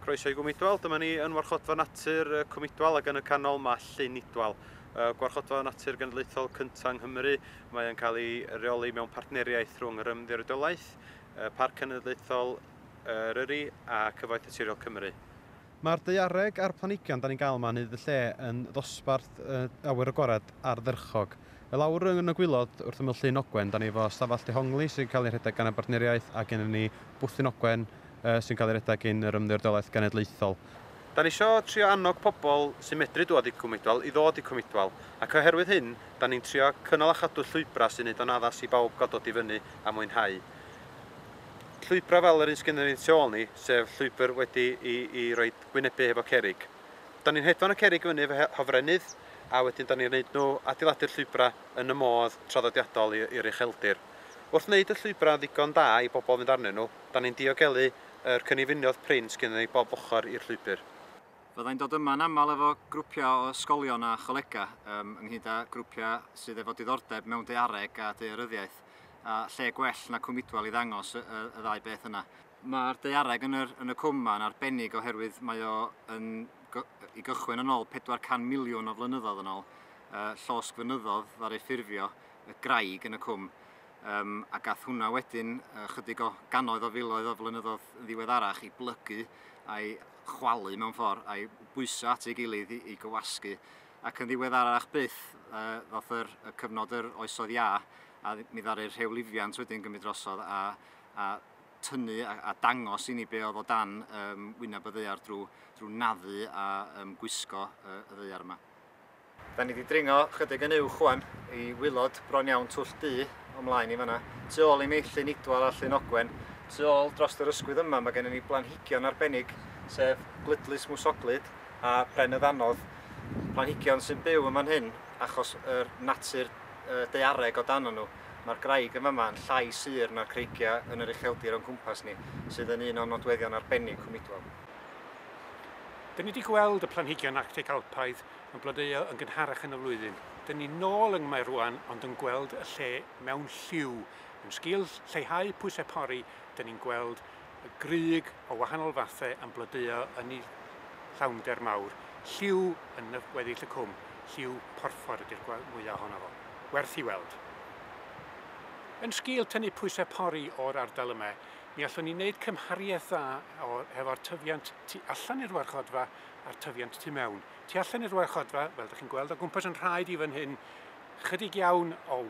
Croeso i Gwm Idwal, dyma ni yn Warchodfa Natur Cwm Idwal ac yn y canol mae Llyn Idwal. Gwarchodfa Natur Genedlaethol cyntaf yng Nghymru, mae'n cael ei reoli mewn partneriaeth rhwng yr Ymddiriedolaeth, Parc Cenedlaethol Eryri a Cyfoeth Naturiol Cymru. Mae'r daeareg a'r planhigion da ni'n gael yma yn neud y lle yn ddosbarth awyr agored ardderchog. I lawr yn y gwylod wrth ymyl Llyn Ogwen da ni efo stafell dehongli sy'n cael ei rhedeg gan y bartneriaeth a gennym ni bwthyn ogwen, sy'n cael ei redeg gin yr Ymddiriedolaeth Genedlaethol. Da ni isio trio annog pobl sy'n medru dŵad i Cwm Idwal i ddod i Cwm Idwal, ac oherwydd hyn, da ni'n trio cynnal a chadw llwybrau sy'n neud o'n addas i bawb gael dod i fyny a mwynhau llwybrau fel yr un sgynnon ni tu ôl ni, sef llwybr wedi i i roi gwynebu hefo cerrig. Da ni'n hedfan y cerrig i fyny efo hofrennydd, a wedyn da ni'n neud nhw, adeiladu'r llwybrau yn y modd traddodiadol i'r ucheldir. Wrth neud y llwybrau ddigon da i bobl fynd arnyn nhw, Da ni'n diogelu yr cynnifiniodd prin sgynnon ni bob ochr i'r llwybr. Fydda i'n dod yma'n aml efo grwpiau o ysgolion a cholegau, yym, ynghyd â grwpiau sydd efo diddordeb mewn daeareg a daearyddiaeth, a lle gwell na Cwm Idwal i ddangos y, y, y ddau beth yna. Mae'r daeareg yn yr, yn y cwm yma yn arbennig oherwydd mae o yn, i gychwyn yn ôl 400 miliwn o flynyddoedd yn ôl, yy, llosg fynyddodd ddaru ffurfio y graig yn y cwm. Yym, a gath hwnna wedyn, ychydig o gannoedd o filoedd o flynyddoedd yn ddiweddarach, i blygu a'i chwalu mewn ffordd, a'i bwyso at ei gilydd i, i gywasgu. Ac yn ddiweddarach byth, uh, ddoth yr, y cyfnod yr oesoedd iâ, a mi ddaru'r rhew lifiant wedyn gymryd drosodd a, a tynnu a, a dangos i ni be oedd o dan um, wyneb y ddeiar drwy, drwy naddu a um, gwisgo uh, y ddeiar yma. Da ni 'di dringo chydig yn uwch ŵan i waelod bron iawn Twll Du, o mlaen i fan'na. Tu ôl i mi, Llyn Idwal a Llyn Ogwen. Tu ôl drost yr ysgwydd yma mae gennym ni blanhigion arbennig, sef Gludlys Mwsoglyd a Pren y Ddanodd. Planhigion sy'n byw yn fan hyn achos yr natur daeareg o dano nhw. Mae'r graig yn fama yn llai sur na'r creigiau yn yr ucheldir o'n cwmpas ni, sydd yn un o'n nodweddion arbennig Cwm Idwal. Da ni 'di gweld y planhigion Arctic Alpaidd Mae'n blodeuo yn gynharach yn y flwyddyn. Dyn ni nôl yng Mae rwan ond yn gweld y lle mewn lliw. Yn sgil lleihau pwysau pori, dyn ni'n gweld y grug o wahanol fathau yn blodeuo yn y llawnder mawr. Lliw yn weddill y cwm, lliw porffor ydy'r mwya ohono fo. Werth i weld. Yn sgil tynnu pwysau pori o'r ardal yma, mi allwn ni wneud cymhariaeth dda hefo'r tyfiant tu allan i'r warchodfa a'r tyfiant tu mewn. Tu allan i'r warchodfa, fel ydych chi'n gweld o gwmpas yn rhaid i fan hyn, chydig iawn o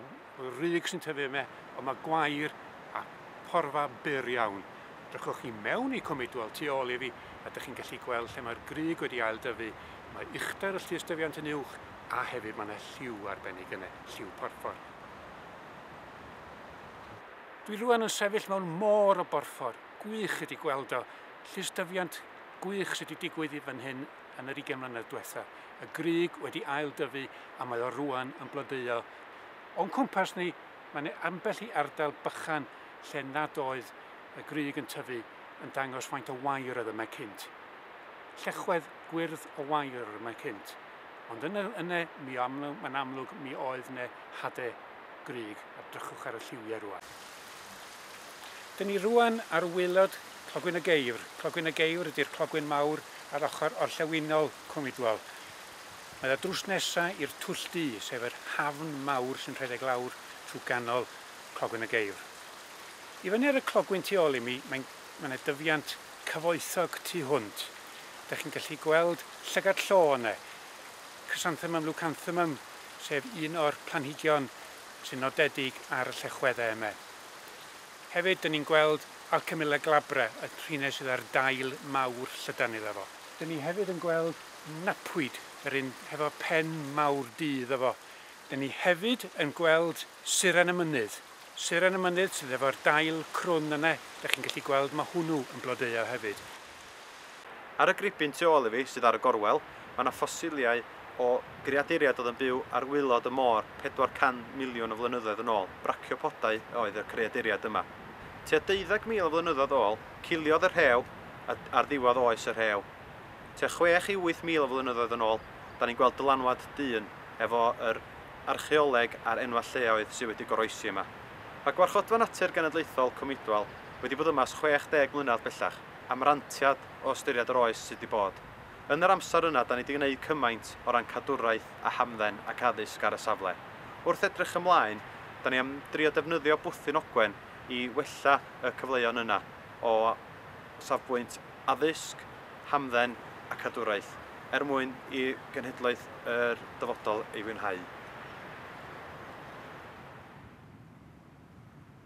ryg sy'n tyfu yma, ond mae gwair a porfa byr iawn. Drychwch chi mewn i Cwm Idwal tu ôl i fi, a ydych chi'n gallu gweld lle mae'r grug wedi ail dyfu, mae uchder y llystyfiant yn uwch, a hefyd mae yna lliw arbennig yna, lliw porffor. Dwi rwan yn sefyll mewn môr o borffor, gwych ydi gweld o, llystyfiant gwych sy 'di digwydd i fan hyn yn yr ugain mlynedd dwetha. Y grug wedi ail dyfu a mae o rwan yn blodeuo. O'n cwmpas ni, mae 'ne ambell i ardal bychan lle nad oedd y grug yn tyfu yn dangos faint o wair oedd yma cynt. Llechwedd gwyrdd o wair oedd yma cynt. Ond yn yne, mi amlwg, mae'n amlwg mi oedd 'ne hade grug a drychwch ar y lliwiau rwan. Dyn ni rŵan ar waelod Clogwyn y Geifr. Clogwyn y Geifr ydy'r clogwyn mawr ar ochr orllewinol Cwm Idwal. Mae o drws nesa i'r Twll Du, sef yr hafn mawr sy'n rhedeg lawr trwy ganol Clogwyn y Geifr. I fyny ar y clogwyn tu ôl i mi, mae'n, mae 'na dyfiant cyfoethog tu hwnt. Dych chi'n gallu gweld llygad llo yna, Chrysanthemum leucanthemum, sef un o'r planhigion sy'n nodedig ar y llechwedde yme. Hefyd, dyn ni'n gweld Alcemilla glabra, y rhine sydd â'r dail mawr llydan iddo fo. Dyn ni hefyd yn gweld Napwyd, yr un hefo pen mawr du iddo fo. Dyn ni hefyd yn gweld Suran y Mynydd. Suran y Mynydd sydd efo'r dail crwn yna, dych chi'n gallu gweld ma' hwnnw yn blodeuo hefyd. Ar y gribyn tu ôl i fi, sydd ar y gorwel, mae yna ffosiliau o greaduriaid oedd yn byw ar waelod y môr 400 miliwn o flynyddoedd yn ôl, braciopodau oedd y creaduriaid yma. Tua deuddeg mil o flynyddoedd ôl, ciliodd y rhew a ar ddiwedd oes y rhew. Tua chwech i wyth mil o flynyddoedd yn ôl, da ni'n gweld dylanwad dyn efo yr archeoleg a'r enwau lleoedd sydd wedi goroesi yma. Mae Gwarchodfa Natur Genedlaethol Cwm Idwal wedi bod yma ers 60 mlynedd bellach. am rantiad o ystyried yr oes sydd 'di bod. Yn yr amser yna 'da ni 'di gneud cymaint o ran cadwraeth a hamdden ac addysg ar y safle. Wrth edrych ymlaen, 'da ni am drio defnyddio Bwthyn Ogwen i wella y cyfleon yna o safbwynt addysg, hamdden a cadwraeth, er mwyn i genhedloedd yr dyfodol ei fwynhau.